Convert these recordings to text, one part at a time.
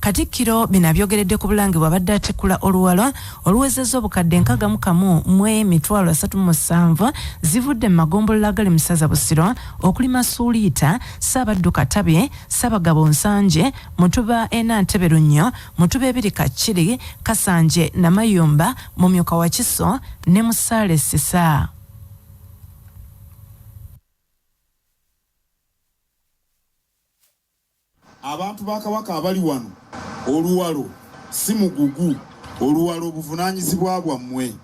Katikkiro bino abyogeredde ku Bulange bw'abadde atikkula oluwalo oluwezezza obukadde nkaaga mu kamu mu emitwalo asatu mu musanvu zivudde mu magombolola agali mu ssaza Busiro okuli Masuuliita, Ssaabaddu Katabi, Ssaabagabo Nsanje, Mutuba e Nantebe Lunnyo, Mutuba ebiri Kakiri, Kasanje, Namayumba, Mumyuka Wakiso ne Musaale Ssisa. Abantu ba Kabaka abali wano, Oluwalo si mugugu. Oluwalo buvunaanyizibwa bwammwe.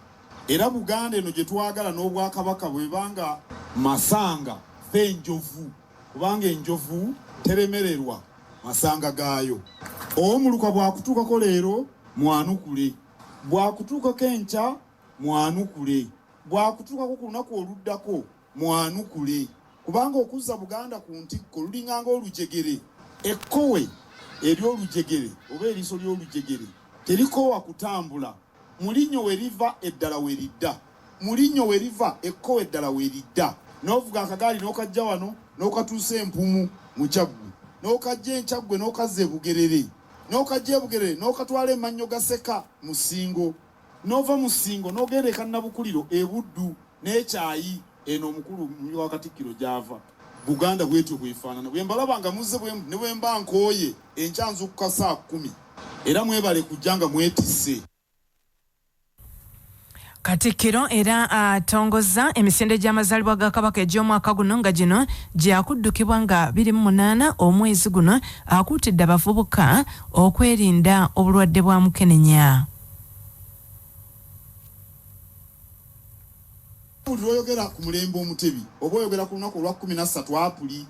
Era Buganda eno gye twagala n'Obwakabaka bw'eba nga Masanga ffe Enjovu, kubanga enjovu teremererwa masanga gaayo. Omuluka bw'akutuukako leero, mwanukule. Bw'akutuukako enkya, mwanukule. Bw'akutuukako ku lunaku oluddako, Mwanukule kubanga okuzza Buganda ku ntikko lulinganga olujegere. Ekkowe ery'olujegere oba eriiso ly'olujegere terikoowa kutambula. Mu linnyo we liva eddala we lidda. Mu linnyo we liva ekkowe eddala we lidda. N'ovuga akagaali n'okajja wano n'okatuusa e Mpumu mu Kyaggwe, n'okajja e Kyaggwe n'okazza e Bugerere, n'okajja e Bugerere n'okatwala e Mannyogaseka mu Ssingo, Nova mu Ssingo n'ogenda e Kannabukuliro e Buddu n'ekyayi eno omukulu mumyuka wa Katikkiro gy'ava. Buganda bwetyo bwefaanana bwe mbalaba nga muzze ne bwe mba nkooye enkya nzukka saa kkumi era mwebale kujja nga mwetisse. Katikkiro era atongozza emisinde gy'amazaalibwa ga Kabaka egy'omwaka guno nga gino gyakuddukibwa nga biri mu munaana omwezi guno akuutidde abavubuka okwerinda obulwadde bwa mukenenya. buli lwoyogera ku mulembe omutebi oba oyogera ku lunaku olwa kumi nassatu apuli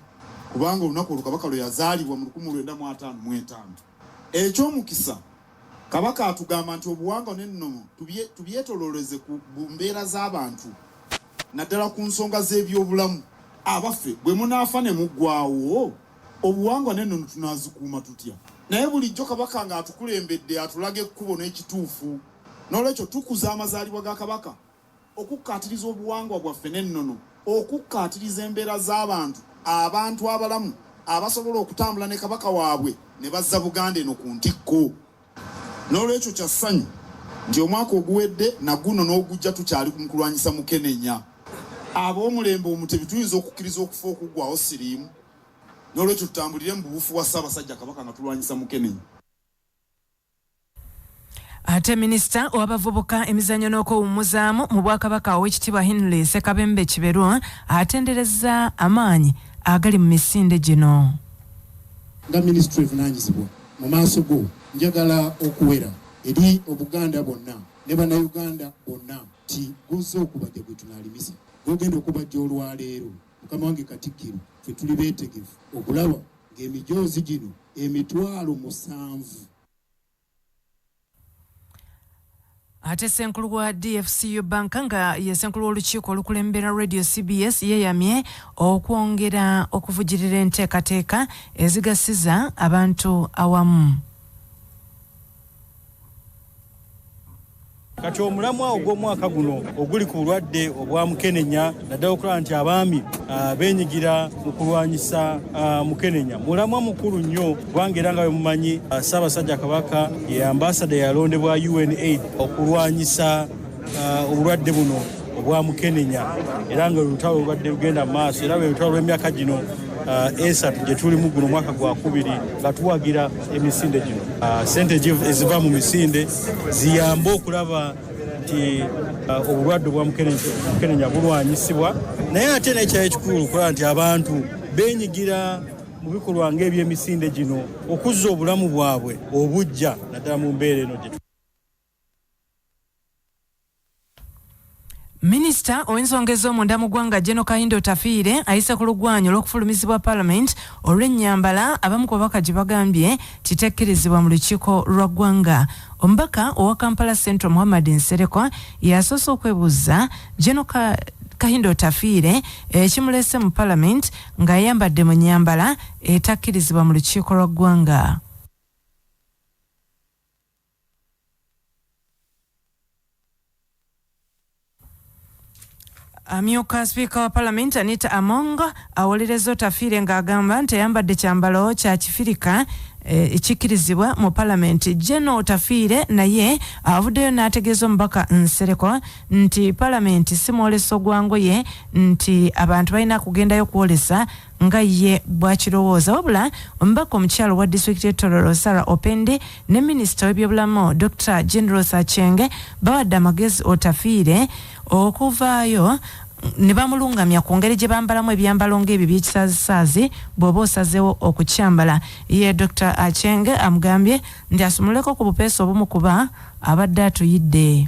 kubanga olunaku olwo kabaka lwe yazaalibwa mu lukumi lwenda mu ataano mu etaano ekyomukisa kabaka atugamba nti obuwangwa n'ennono tubyetololeze ku mbeera z'abantu naddala ku nsonga z'ebyobulamu. Abaffe, bwe munaafa ne muggwaawo, obuwangwa n'ennono tunaazikuuma tutya? Naye bulijjo Kabaka ng'atukulembedde atulaga ekkubo n'ekituufu. N'olwekyo tukuza amazaalibwa ga Kabaka, okukkaatiriza obuwangwa bwaffe n'ennono, okukkaatiriza embeera z'abantu, abantu abalamu abasobola okutambula ne Kabaka waabwe ne bazza Buganda eno ku ntikko. N'olwekyo kya ssanyu nti omwaka oguwedde na guno n'ogujja tukyali mu kulwanyisa mukenenya. Ab'omulembe Omutebi tuyinza okukkiriza okufa okuggwaawo siriimu. N'olwekyo tutambulire mu buwufu bwa Ssaabasajja Kabaka nga tulwanyisa mukenenya. Ate minisita owabavubuka emizanyo n'okwewummuzaamu mu bwakabaka owekitibwa Henry Sekabembe Kiberu atenderezza amaanyi agali mu misinde gino. Nga minisitule evunaanyizibwa Mu maaso go njagala okuwera eri Obuganda bwonna ne Bannayuganda bonna nti guzze okubajja gwe tunaalimisa gwogenda okubajja olwaleero mukama wange Katikkiro ffe tuli beetegefu okulaba ng'emijoozi gino emitwalo musanvu ate senkulu wa dfcu banka nga ye senkulu w'olukiiko olukulembera radio cbs yeeyamye okwongera okuvujirira enteekateeka ezigasiza abantu awamu kati omulamwa ogw'omwaka guno oguli ku bulwadde obwa mukenenya naddala okulaba nti abaami ah, benyigira mu kulwanyisa ah, mukenenya mulamwa mukulu nnyo kubanga era nga bwe mumanyi uh, ssaabasajja kabaka ye ambasada yalondebwa unaid okulwanyisa uh, obulwadde buno obwa mukenenya era nga olutalo lubadde lugenda mu maaso era lwe lutalo lw'emyaka gino uh, esatu gye tulimu guno omwaka gwa kubiri nga tuwagira emisinde gino sente eziva mu misinde ziyambe okulaba nti obulwadde obwa mukenenya bulwanyisibwa naye ate nekyayo ekikulu okulaba nti abantu benyigira mu bikolwa ng'ebyemisinde gino okuzza obulamu bwabwe obujja naddala mu mbeera eno gye minisita ow'ensonga ez'omunda mu ggwanga geno kahinda otafiire ayise ku lugwanyu olw'okufulumizibwa palamenti olw'ennyambala abamu ku babaka gye bagambye kitekkirizibwa mu lukiiko lwa ggwanga omubaka owa kampala central muhammad nserekwa yasoose okwebuuzza geno kahinda otafiire ekimulese eh, mu palamenti ng'ayambadde mu nnyambala etakkirizibwa mu lukiiko lwa ggwanga. amyuka sipiika wa palamenti anita among awolereza otafiire ng'agamba nti ayambadde kyambalo kya kifirika eh, ekikkirizibwa e, mu palamenti jeno otafiire naye avuddeyo n'ategeeza omubaka nsereko nti palamenti si mwoleso gwa ngoye nti abantu balina kugendayo kwolesa nga ye bwakirowooza wabula omubaka omukyalo wa disitulikiti e tororo sara opende ne minisita w'ebyobulamu dr general sachenge bawadde amagezi otafiire okuvaayo ne bamulungamya ku ngeri gye bambalamu ebyambalo ng'ebyo by'ekisaazisaazi bw'oba osazeewo okukyambala ye dr achenge amugambye nti asumululeko ku bupeesa obumu kuba abadde atuyidde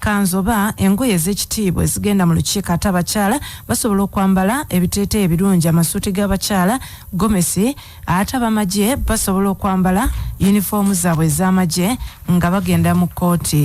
Kkanzu oba engoye ez'ekitiibwa ezigenda mu lukiiko ate abakyala basobola okwambala ebiteeteeyi ebirungi, amasuuti g'abakyala, gomesi, ate abamagye basobola okwambala yunifoomu zaabwe ez'amagye nga bagenda mu kkooti.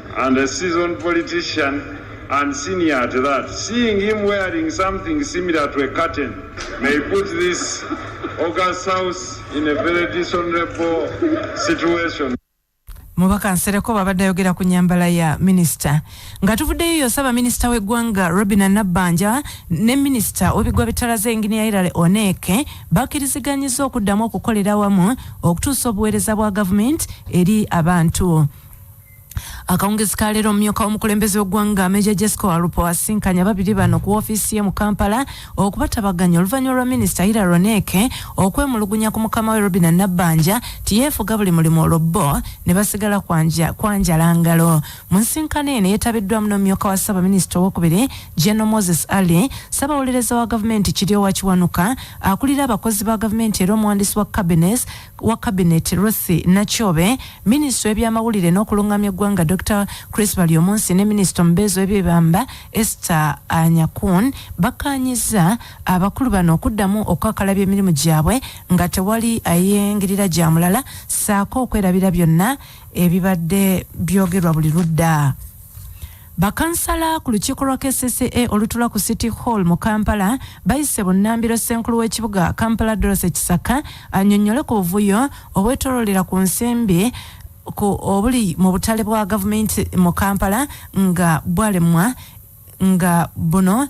And a seasoned politician and senior at that. Seeing him wearing something similar to a curtain may put this August House in a very dishonorable situation. mubaka nsereko babadde ayogera ku nyambala ya minisita nga tuvuddeyo yosaba minisita w'eggwanga robina nabbanja ne minisita w'ebiggwa bitalaze enginiya irale oneeke bakiriziganyiza okuddamu okukolera awamu okutuusa obuweereza bwa gavumenti eri abantu akawungezi ka leero omumyuka w'omukulembeze w'eggwanga meja jesco alupo asinkanya babiri bano ku ofiisi ye mu kampala okubatabaganya oluvannyuma lwa minisita ira roneke okwemulugunya ku mukama we robina nabbanja tiyeefuga buli mulimu olwo bbo ne basigala kwanjala ngalo mu nsinkano eno yetabiddwamu n'omumyuka wa ssaabaminisita owokubiri geno moses ali ssabawolereza wa gavumenti kiryowa kiwanuka akulira abakozi ba gavumenti era omuwandiisi wa cabines wa Cabinet Ruth Nakyobe, Minisita w'ebyamawulire n'okulungamya eggwanga Dokita Chris Baryomunsi ne Minisita omubeezi w'ebyebamba Esther Anyakun bakkaanyizza abakulu bano okuddamu okukakalabya emirimu gyabwe nga tewali ayingirira gya mulala ssaako okwerabira byonna ebibadde byogerwa buli ludda. Bakansala ku lukiiko lwa kcca olutula ku City Hall mu Kampala bayise bunnambiro ssenkulu w'ekibuga Kampala Dorothy Kisaka annyonnyole ku buvuyo obwetololera ku nsimbi ku obuli mu butale bwa gavumenti mu Kampala nga bwalemwa nga buno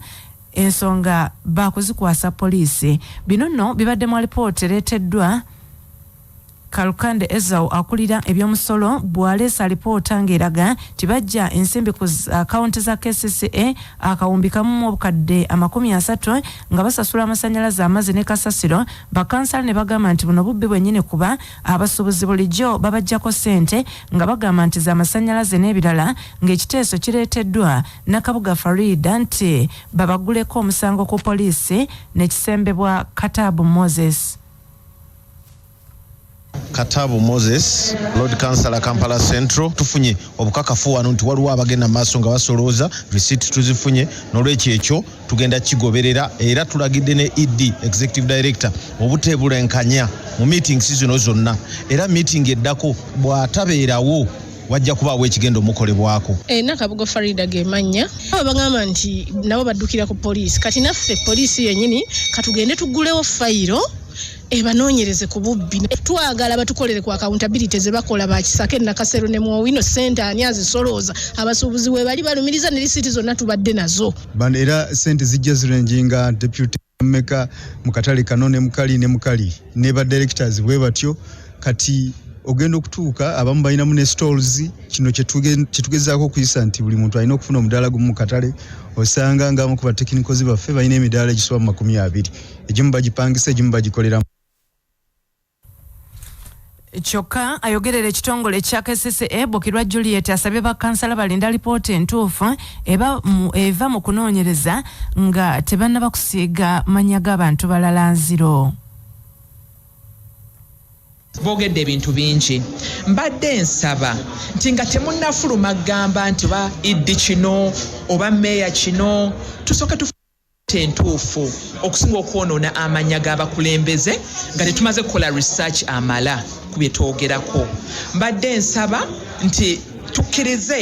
ensonga baakuzikwasa poliisi. Bino nno bibadde mu alipoota ereeteddwa Kalukande Ezau akulira eby'omusolo bw'aleese alipoota ng'eraga nti baggya ensimbi ku akawunti za kcca akawumbi kamu mu obukadde amakumi asatu nga basasula amasannyalaze amazzi ne kasasiro bakansala ne bagamba nti buno bubbi bwennyini kuba abasuubuzi bulijjo babaggyako ssente nga bagamba nti za masannyalaze n'ebirala ng'ekiteeso kireeteddwa Nakabuga Farida nti babaguleko omusango ku poliisi ne kisembebwa Kataabu Moses. Katabu Moses, Lord Councillor Kampala Central. Tufunye obukakafu wano nti waliwo abagenda mu maaso nga basolooza, receipt tuzifunye, n'olwekyo ekyo tugenda kigoberera era tulagidde ne ED, Executive Director, obuteebulenkanya mu meetings zino zonna era meeting eddako bw'atabeerawo wajja kubaawo ekigenda omukolebwako. E, Nakabugo Farida ge mannya abo bagamba nti nabo baddukira ku poliisi. Kati naffe poliisi yennyini katugende tugulewo fayiro ebanoonyereze ku bubbi twagala batukolere ku accountability ze bakola bakisake nakasero ne mwowino sente ani azisolooza abasuubuzi webali balumiriza ne lisiti zonna tubadde nazo era sente zijja zirenjinga deputy meka mu katale kano ne mukali ne mukali ne ba directors bwe batyo kati ogenda okutuuka abamu balinamu ne stalls kino kyetugezaako okuyisa nti buli muntu alina okufuna omudaala gumu mu katale osanga ngaamu ku batekinikozi baffe balina emidaala egisoba mu makumi abiri egimu bagipangisa egimu bagikoleramu kyokka ayogerera ekitongole ekya kcca bukirwa juliet asabye bakansala balinda lipoota entuufu eva mu kunoonyereza nga tebannaba kusiiga mannya g'abantu balala nziro boogedde ebintu bingi mbadde nsaba nti nga temunnafuluma gamba nti oba iddi kino oba meeya kino tusooke entuufu okusinga okwonoona amannya g'abakulembeze nga tetumaze kukola research amala ku bye twogerako. Mbadde nsaba nti tukkirize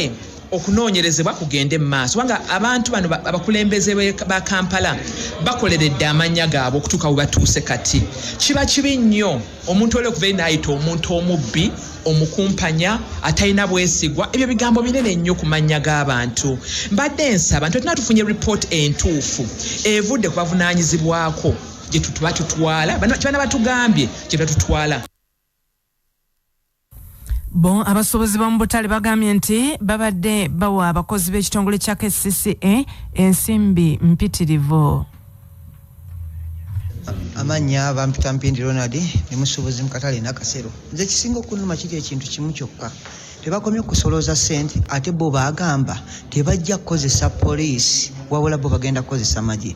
okunoonyerezebwa kugende mu maaso kubanga abantu bano abakulembeze ba Kampala bakoleredde amannya gaabwe okutuuka we batuuse kati. Kiba kibi nnyo. omuntu oli okuva enayita omuntu omubbi omukumpanya atalina bwesigwa ebyo bigambo binene nnyo ku mannya g'abantu mbadde nsaba nti otina tufunye report entuufu evudde ku bavunanyizibwako gyetutuba tutwala kibana batugambye gyetuba tutwala Bo abasuubuzi b'omu butale bagambye nti babadde bawa abakozi b'ekitongole kya kcca ensimbi mpitirivu amannya bampita mpindi ronald ne musuubuzi mu katale nakasero nze ekisinga okunuma kiri ekintu kimu kyokka tebakomye kusolooza sente ate bo bagamba tebajja kukozesa poliisi wabula bo bagenda kukozesa magye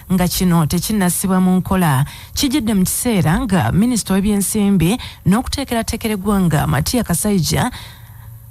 nga kino tekinnassibwa mu nkola kijidde mu kiseera nga minisita w'ebyensimbi n'okuteekerateekera eggwanga matiya kasaija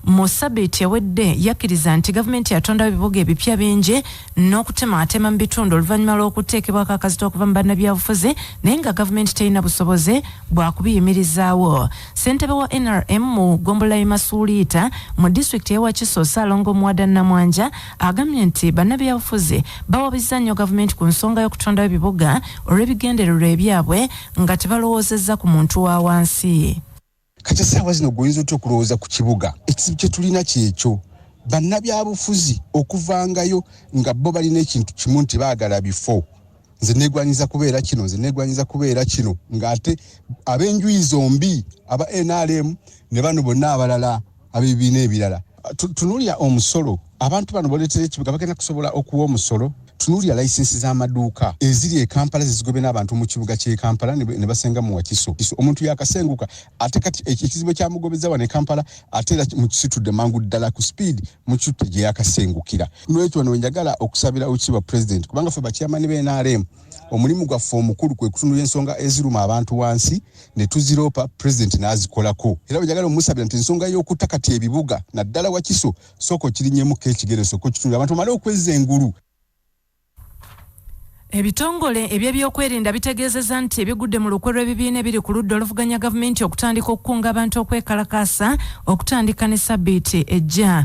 mu sabiiti ewedde yakkiriza nti gavumenti yatondawo ebibuga ebipya bingi n'okutemaatema mu bitundu oluvannyuma lw'okuteekebwako akazita okuva mu bannabyabufuzi naye nga gavumenti terina busobozi bwa kubiyimirizaawo ssentebe wa nrm mu ggombolola y'e masuuliita mu disitulikiti y'e wakiso ssaalongo muwada namwanja Agambye nti bannabyabufuzi bawabizza nnyo gavumenti ku nsonga y'okutondawo ebibuga olw'ebigendererwa ebyabwe nga tebalowoozezza ku muntu wa wansi. Kati essaawa zino gwe oyinza otya okulowooza ku kibuga? Ekizibu kye tulina kyekyo bannabyabufuzi okuvangayo nga bo balina ekintu kimu nti baagala bifo nze negwanyiza kubeera kino nze negwanyiza kubeera kino ng'ate ab'enjuyi zombi aba nrm ne bano bonna abalala abebibiina ebirala tunulira omusolo abantu bano boletera ekibuga bagenda kusobola okuwa omusolo tunulira layisinsi z'amaduuka eziri e kampala zezigobe n'abantu mu kibuga ky'e kampala ne basenga mu wakiso omuntu yakasenguka ate kati ekizibu ekyamugobeza wano e kampala ate era mukisitudde mangu ddala ku speed mukitte gye yakasengukira nolwekyo wano wenjagala okusabira okiibwa president kubanga fe bakyamani b'enrm omulimu gwaffe omukulu kwe kutunula ensonga eziruma abantu wansi ne tuziroopa pulezidenti n'azikolako era bwe njagala omusabira nti ensonga y'okutta kati ebibuga naddala wakiso sooka okirinyemukko ekigere sooka okitunula abantu omale okwezza engulu Ebitongole eby'ebyokwerinda bitegeezezza nti bigudde mu lukwe lw'ebibiina ebiri ku ludda oluvuganya gavumenti okutandika okukunga abantu okwekalakaasa okutandika ne sabbiiti ejja.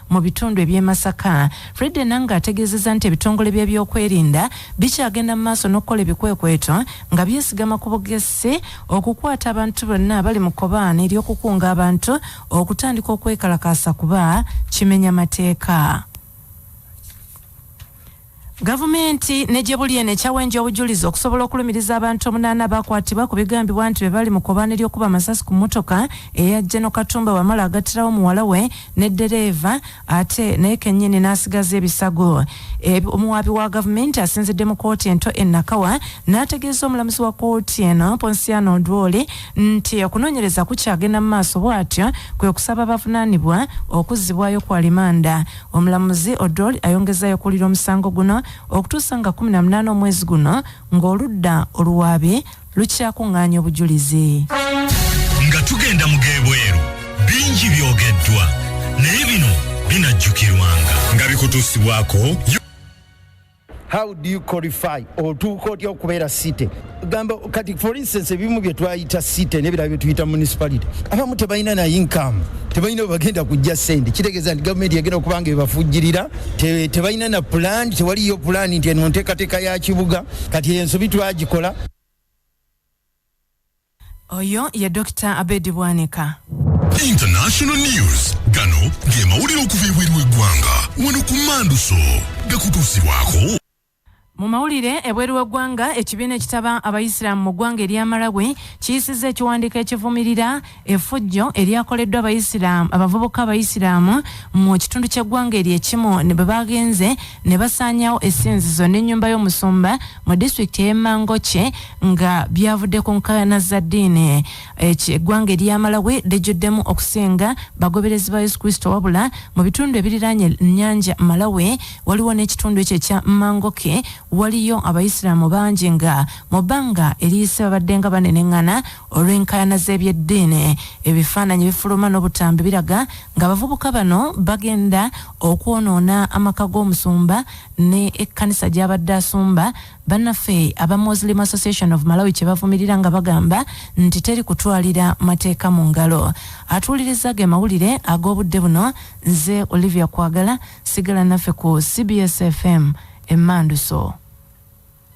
mu bitundu eby'e Masaka. Fred Enanga ategeezezza nti ebitongole by'ebyokwerinda bikyagenda mu maaso n'okukola ebikwekweto nga byesigama ku bugesi okukwata abantu bonna abali mu kobaane ery'okukunga abantu okutandika okwekalakaasa kuba kimenya mateeka. Gavumenti ne gye buli eno ekyawenja obujulizi okusobola okulumiriza abantu omunaana abakwatibwa ku bigambibwa nti be bali mu kobaana ery'okuba amasasi ku mmotoka eya Geno Katumba Wamala agattirawo muwala we ne ddereeva ate naye kennyini n'asigaza ebisago. Omuwaabi wa gavumenti asinzidde mu kkooti ento e Nakawa n'ategeeza omulamuzi wa kkooti eno Ponsiano Odwori nti okunoonyereza kukyagenda mu maaso bw'atyo kwe kusaba abavunaanibwa okuzzibwayo ku alimanda. Omulamuzi Odol ayongezaayo okuwulira omusango guno okutuusa nga kkumi na munaana omwezi guno ng'oludda oluwaabi lukyakung'aanya obujulizi. Nga tugenda mu g'ebweru bingi byogeddwa naye bino binajjukirwanga nga bikutuusibwako. how do you qualify otuuka otya okubeera city gamba kati for instance ebimu bye twayita city nebirala bye tuyita municipality abamu tebalina na income tebalina webagenda kujja sente kitegeeza nti gavumenti yagenda okuba nga ebafujjirira te- tebalina na pulaani tewaliyo pulaani nti eno nteekateeka ya kibuga kati ensobi twagikola Oyo ye Dokita Abedi Bwanika. International News gano ge mawulire okuva ebweru w'eggwanga wano ku Manduso gakutuusibwako. Mu mawulire ebweru w'eggwanga ekibiina ekitaba abayisiraamu mu ggwanga erya Malawi kiyisizza ekiwandiiko ekivumirira effujjo eryakoleddwa abayisiraamu abavubuka abayisiraamu mu kitundu ky'eggwanga eryo ekimu bwe baagenze ne basaanyawo essinzizo n'ennyumba y'omusumba mu disitulikiti ey'e Mangochi nga byavudde ku nkaayana za ddiini. Eggwanga erya Malawi lijjuddemu okusinga bagoberezi ba Yesu Kristo wabula mu bitundu ebiriraanye ennyanja Malawi waliwo n'ekitundu ekyo ekya Mangochi waliyo Abayisiraamu bangi nga mu bbanga eriyise babaddenga baneneŋŋana olw'enkaayana z'ebyeddiini. Ebifaananyi ebifuluma n'obutambi biraga ng'abavubuka bano bagenda okwonoona amaka g'omusumba ne ekkanisa gy'abadde asumba bannaffe aba Muslim Association of Malawi kye bavumirira nga bagamba nti teri kutwalira mateeka mu ngalo. Atuulirizza ge mawulire ag'obudde buno nze Olivia Kwagala sigala naffe ku CBS FM emmanduso.